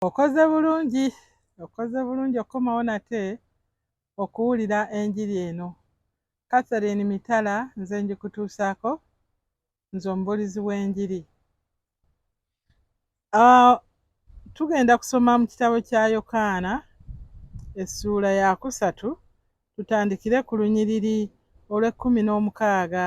okoze bulungi okoze bulungi okukomawo nate okuwulira enjiri eno catherine mitala nze njikutuusaako nze omubulizi w'enjiri ah, tugenda kusoma mu kitabo kya yokaana essuula yakusatu tutandikire ku lunyiriri olw'ekkumi n'omukaaga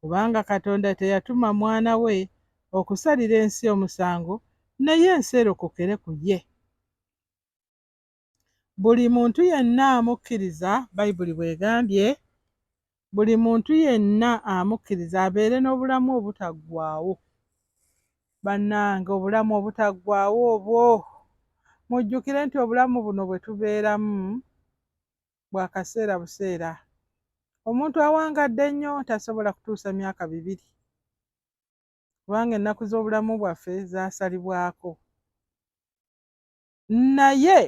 kubanga Katonda teyatuma mwana we okusalira ensi omusango naye ensi erokokere ku ye. Buli muntu yenna amukkiriza, Bayibuli bw'egambye, buli muntu yenna amukkiriza abeere n'obulamu obutaggwaawo. Bannange, obulamu obutaggwaawo obwo! Mujjukire nti obulamu buno bwe tubeeramu bwa kaseera buseera. Omuntu awangadde ennyo tasobola kutuusa myaka bibiri kubanga ennaku z'obulamu bwaffe zaasalibwako. Naye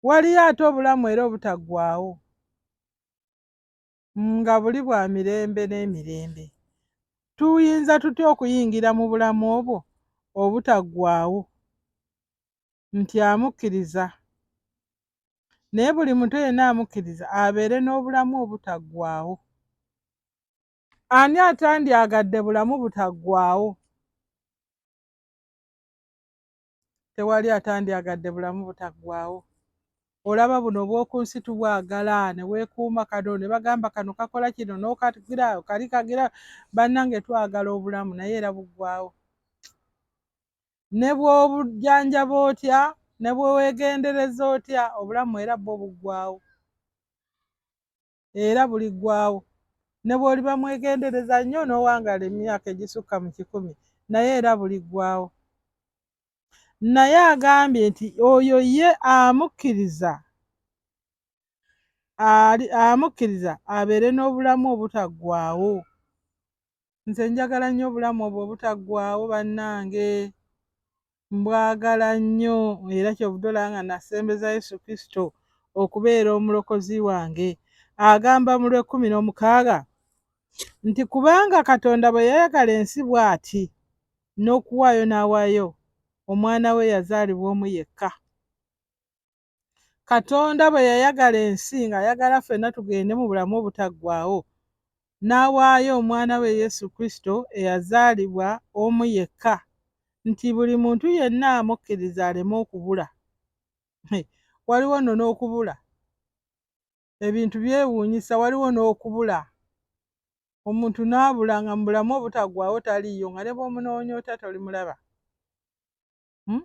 waliyo ate obulamu era obutaggwaawo. nga buli bwa mirembe n'emirembe. Tuyinza tutya okuyingira mu bulamu obwo obutaggwaawo? Nti amukkiriza. Naye buli muntu yenna amukkiriza abeere n'obulamu obutaggwaawo. Ani atandyagadde bulamu butaggwaawo? tewali atandyagadde bulamu butaggwaawo olaba buno obw'oku nsi tubwagala ne weekuuma kano ne bagamba kano kakola kino n'okagira kali kagira bannange twagala obulamu naye era buggwaawo ne bw'obujjanjaba otya ne bwe weegendereza otya obulamu era bwo buggwaawo era buliggwaawo. Ne bw'oliba mwegendereza nnyo n'owangaala emyaka egisukka mu kikumi, naye era buliggwaawo. Naye agambye nti oyo ye amukkiriza amukkiriza abeere n'obulamu obutaggwaawo. nze njagala nnyo obulamu obwo obutaggwaawo bannange mbwagala nnyo era kyobudola nga nasembeza yesu kristo okubeera omulokozi wange agamba mu lwekkumi n'omukaaga nti kubanga katonda bwe yayagala ensi bw'ati n'okuwaayo n'awaayo omwana we yazaalibwa omu yekka Katonda bwe yayagala ensi ng'ayagala ffenna tugende mu bulamu obutaggwaawo, n'awaayo omwana we Yesu Kristo eyazaalibwa omu yekka nti buli muntu yenna amukkiriza aleme okubula. Waliwo nno n'okubula. Ebintu byewuunyisa, waliwo n'okubula. Omuntu n'abula nga mu bulamu obutaggwaawo taliiyo nga ne bw'omunoonya otya tolimulaba. Hmm?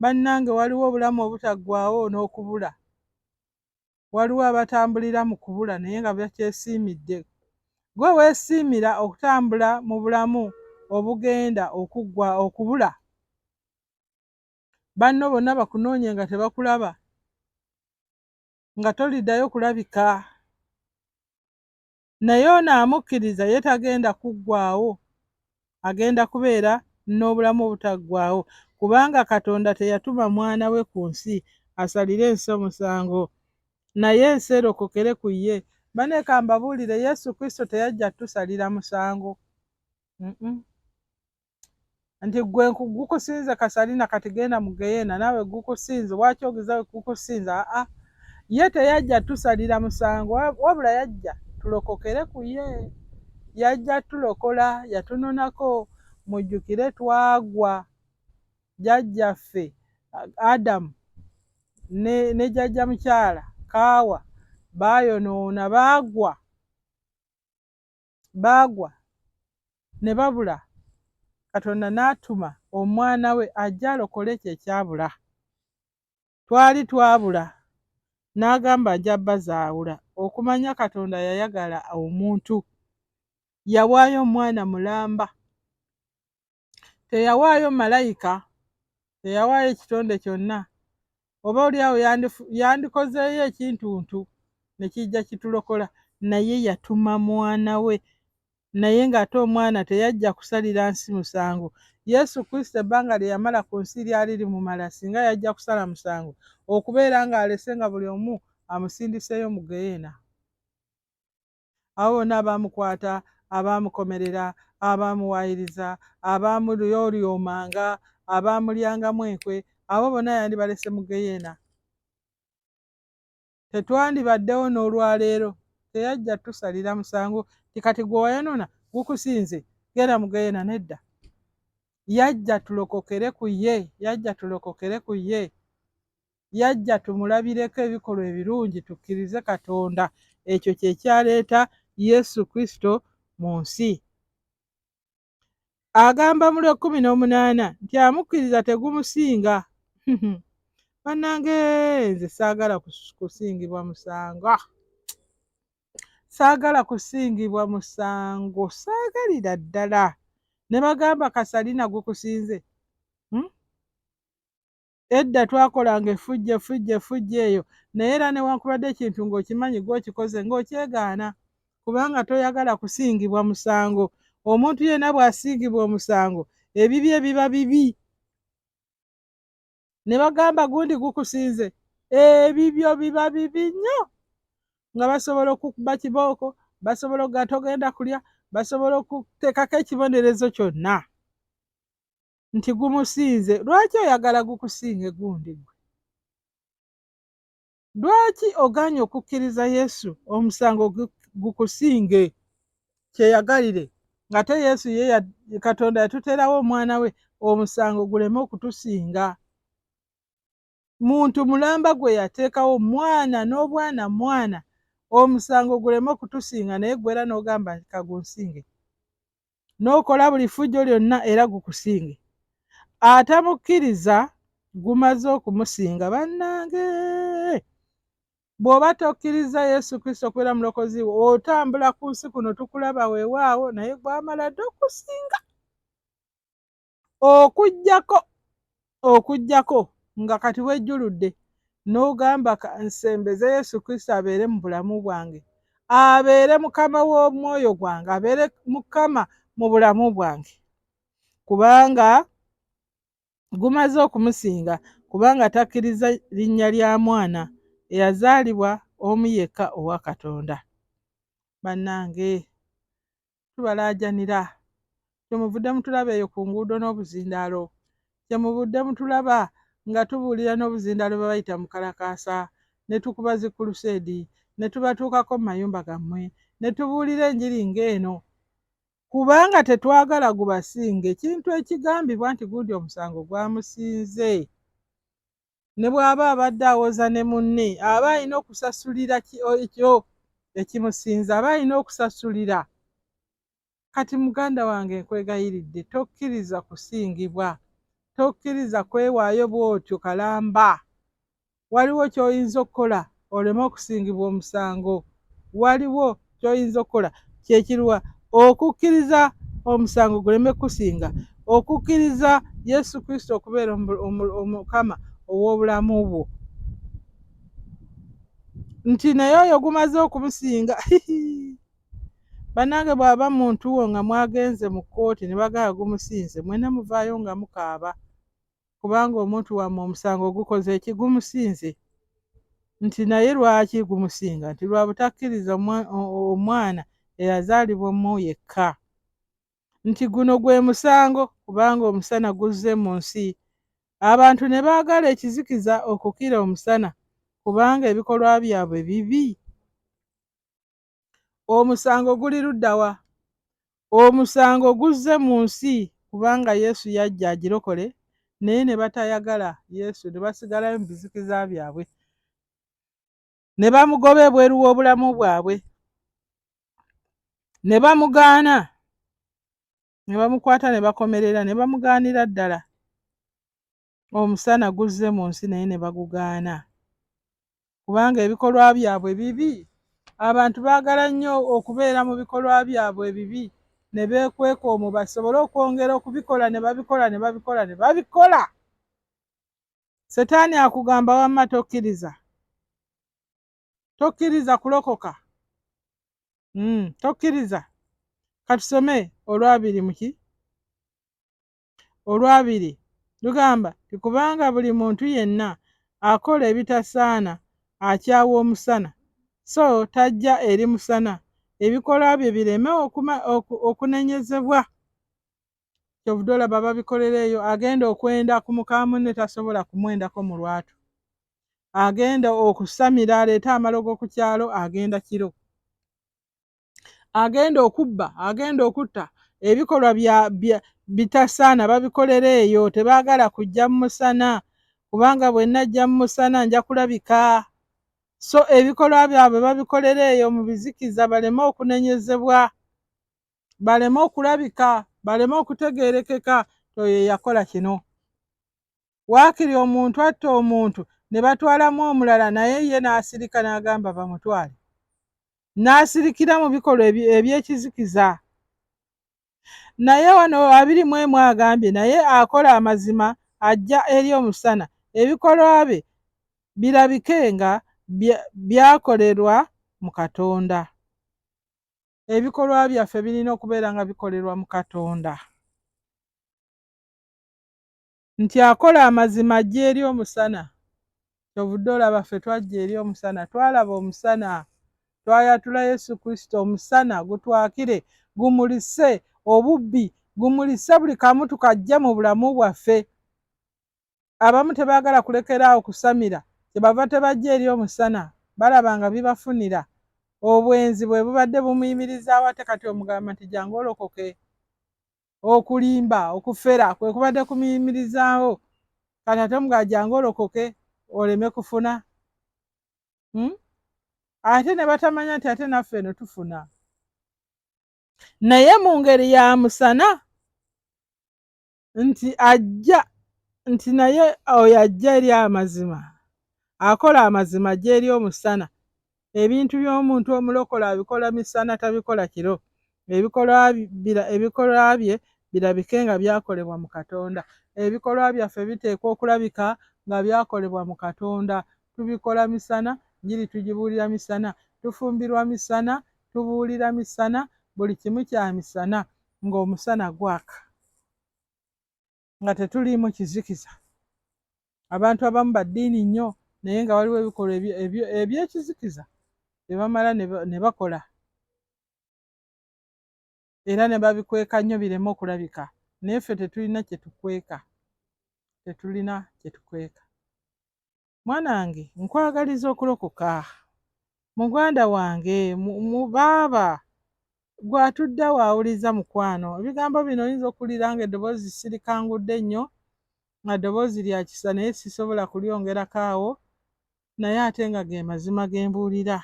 bannange waliwo obulamu obutaggwaawo n'okubula. Waliwo abatambulira mu kubula naye nga bakyesiimidde. Gwe weesiimira okutambula mu bulamu obugenda okuggwa okubula? Banno bonna bakunoonye nga tebakulaba, nga toliddayo kulabika. naye ono amukkiriza ye tagenda kuggwaawo agenda kubeera n'obulamu obutaggwaawo kubanga katonda teyatuma mwana we ku nsi asalire ensi omusango naye ensi erokokere ku ye baneeka mbabuulire yesu kristo teyajja tusalira musango mm -mm. nti gwe gukusinze kasalina kati genda mugeyena nawe gukusinze waki ogiza gukusinze aa ye teyajja tusalira musango wabula yajja tulokokere ku ye yajja tulokola yatunonako mujjukire twagwa jajjaffe adamu ne, ne jajja mukyala kaawa baayonoona baagwa baagwa ne babula katonda n'atuma omwana we ajja alokole ekyo ekyabula twali twabula n'agamba ajja bazaawula okumanya katonda yayagala omuntu yawaayo omwana mulamba teyawaayo malayika teyawaayo ekitonde kyonna oba oliawo yandikozeeyo ekintuntu nekijja kitulokola naye yatuma mwana we naye ng'ate omwana teyajja kusalira nsi musango yesu kristo ebbanga lye yamala ku nsi lyali limumala singa yajja kusala musango okubeera ng'alese nga buli omu amusindiseeyo mu geyeena abo bonna abaamukwata abaamukomerera abaamuwaayiriza abaamulyolyomanga abaamulyangamu enkwe abo bonna yandibalese mu geyeena tetwandibaddewo n'olwaleero teyajja tusalira musango ti kati gwe wayanona gukusinze genda mu geyeena nedda yajja tulokokere ku ye yajja tulokokere ku ye yajja tumulabireko ebikolwa ebirungi tukkirize Katonda. Ekyo kye kyaleeta Yesu Kristo mu nsi. Agamba mu lw'ekkumi n'omunaana nti amukkiriza tegumusinga. Bannange nze saagala kusingibwa musango. Ah! Saagala kusingibwa musango, saagalira ddala. Ne bagamba Kasalina gukusinze. Hmm? Edda twakolanga effujjo effujjo effujjo eyo naye era newankubadde ekintu ng'okimanyi gwe okikoze ng'okyegaana kubanga toyagala kusingibwa musango. Omuntu yenna bw'asiigibwa omusango ebibye biba bibi. Ne bagamba gundi gukusinze ebibyo biba bibi nnyo nga basobola okukuba kibooko basobola okuga togenda kulya basobola okuteekako ekibonerezo kyonna. nti gumusinze lwaki oyagala gukusinge gundi gwe lwaki ogaanye okukkiriza yesu omusango gukusinge kyeyagalire ngate yesu ye katonda yatuteerawo omwana we omusango guleme okutusinga muntu mulamba gwe yateekawo mwana n'obwana mwana omusango guleme okutusinga naye gwera n'ogamba nti kagunsinge n'okola buli ffujjo lyonna era gukusinge atamukkiriza gumaze okumusinga bannange bw'oba tokkiriza yesu kristo okubeera mulokozi we otambula ku nsi kuno tukulaba weewaawo naye gwamala dde okusinga okujjako okujjako nga kati wejjuludde n'ogamba nsembeze yesu kristo abeere mu bulamu bwange abeere mukama w'omwoyo gwange abeere mukama mu bulamu bwange kubanga gumaze okumusinga kubanga takkiriza linnya lya mwana eyazaalibwa omu yekka owa katonda bannange tubalaajanira kye muvudde mutulaba eyo ku nguudo n'obuzindaalo kye muvudde mutulaba nga tubuulira n'obuzindaalo bwe bayita mu kalakaasa ne tukuba zi kuluseedi ne tubatuukako mu mayumba gammwe ne tubuulira enjiri ng'eno kubanga tetwagala gubasinga ekintu ekigambibwa nti gundi omusango gwamusinze ne bw'aba abadde awoza ne munne aba alina okusasulira ekyo ekimusinza aba alina okusasulira kati muganda wange nkwegayiridde tokkiriza kusingibwa tokkiriza kwewaayo bw'otyo kalamba waliwo ky'oyinza okukola oleme okusingibwa omusango waliwo kyoyinza okukola kyekirwa okukkiriza omusango guleme kukusinga okukkiriza yesu kristo okubeera omukama ow'obulamu bwo nti naye oyo gumaze okumusinga banange bwaba muntu wo nga mwagenze mu kkooti ne bagala gumusinze mwena muvaayo nga mukaaba kubanga omuntu wammwe omusango ogukoze eki gumusinze nti naye lwaki gumusinga nti lwa butakkiriza omwana eyazaalibwa omu yekka nti guno gwe musango kubanga omusana guzze mu nsi abantu ne baagala ekizikiza okukira omusana kubanga ebikolwa byabwe bibi Omusango guli ludda wa? Omusango guzze mu nsi kubanga Yesu yajja agirokole naye ne batayagala Yesu ne basigalayo mu bizikiza byabwe ne bamugoba ebweru w'obulamu bwabwe ne bamugaana ne bamukwata ne bakomerera ne bamugaanira ddala omusana guzze mu nsi naye ne bagugaana kubanga ebikolwa byabwe bibi. Abantu baagala nnyo okubeera mu bikolwa byabwe ebibi ne beekweka omwo basobole okwongera okubikola ne babikola ne babikola ne babikola. Setaani akugamba wamma tokkiriza, tokkiriza kulokoka, hmm, tokkiriza. Katusome olwabiri muki Olwabiri lugamba nti kubanga buli muntu yenna akola ebitasaana akyawa omusana, so tajja eri musana ebikolwa bye bireme okunenyezebwa. Kyovude olaba babikolera eyo, agenda okwenda ku muka munne tasobola kumwendako mu lwatu, agenda okusamira aleete amalogo ku kyalo agenda kiro. agenda okubba agenda okutta ebikolwa bya bitasaana babikolera eyo tebaagala kujja mu musana kubanga bwe najja mu musana nja kulabika so ebikolwa byabwe babikolera eyo mu bizikiza baleme okunenyezebwa baleme okulabika baleme okutegeerekeka oyo yakola kino waakiri omuntu atta omuntu ne batwalamu omulala naye ye n'asirika n'agamba bamutwale n'asirikira mu bikolwa eby'ekizikiza naye wano abiri mu emu agambye naye akola amazima ajja eri omusana ebikolwa bye birabike nga byakolerwa mu katonda ebikolwa byaffe birina okubeera nga bikolerwa mu katonda nti akola amazima ajja eri omusana kyovudde olaba ffe twajja eri omusana twalaba omusana twayatula yesu kristo omusana gutwakire gumulise obubbi gumulise buli kamu tukajja mu bulamu bwaffe abamu tebaagala kulekera awo kusamira kyebava tebajja eri omusana balaba nga bibafunira obwenzi bwe bubadde bumuyimirizaawo ate kati omugamba nti jangu olokoke okulimba okufera kwe kubadde kumiyimirizaawo kati ate mugajanga olokoke oleme kufuna hmm? ate ne batamanya nti ate naffe eno tufuna naye mu ngeri ya musana nti ajja nti naye oyo ajja eri amazima akola amazima ajja eri omusana Ebintu by'omuntu omulokole abikola misana tabikola kiro, ebikolwa bye birabike nga byakolebwa mu Katonda. Ebikolwa byaffe biteekwa okulabika nga byakolebwa mu Katonda. Tubikola misana, njiri tugibuulira misana, tufumbirwa misana, tubuulira misana, buli kimu kya misana ng'omusana gwaka. nga tetuliimu kizikiza abantu abamu baddiini nnyo naye nga waliwo ebikolwa ebyekizikiza byebamala ne bakola era ne babikweka nnyo bireme okulabika naye ffe tetulina kyetukweka tetulina kyetukweka mwana wange nkwagaliza okulokoka muganda wange mu baaba gwe atudde waawuliza mukwano ebigambo bino oyinza okuwulira nga eddoboozi sirikangudde nnyo nga ddoboozi lya kisa naye sisobola kulyongerako awo naye ate nga ge mazima ge mbuulira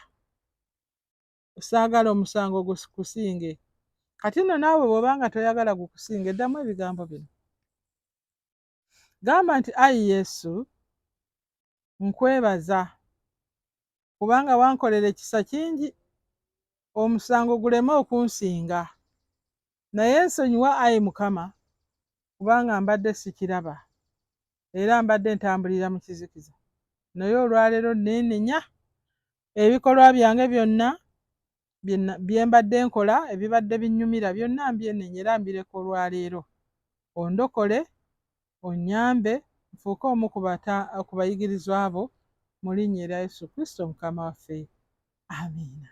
saagala omusango gukusinge kati nno naawe bw'oba nga toyagala gukusinge ddamu ebigambo bino Gamba nti, Ayi Yesu, nkwebaza kubanga wankolera ekisa kingi, omusango guleme okunsinga. Naye nsonyiwa, ayi Mukama, kubanga mbadde sikiraba era mbadde ntambulira mu kizikiza. Naye olwaleero nneenenya ebikolwa byange byonna bye mbadde nkola ebibadde binnyumira byonna mbyenenye era mbireka olwaleero ondokole onnyambe nfuuke omu ku bayigirizwa bo mu linnya erya Yesu Kristo mukama waffe amiina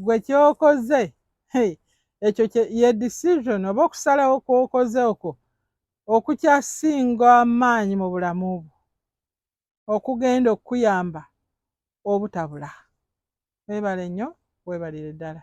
gwe kyokoze ekyo ye decision oba okusalawo kwokoze okwo okukyasinga amaanyi mu bulamu bwo okugenda okukuyamba obutabula webale nnyo webalire ddala.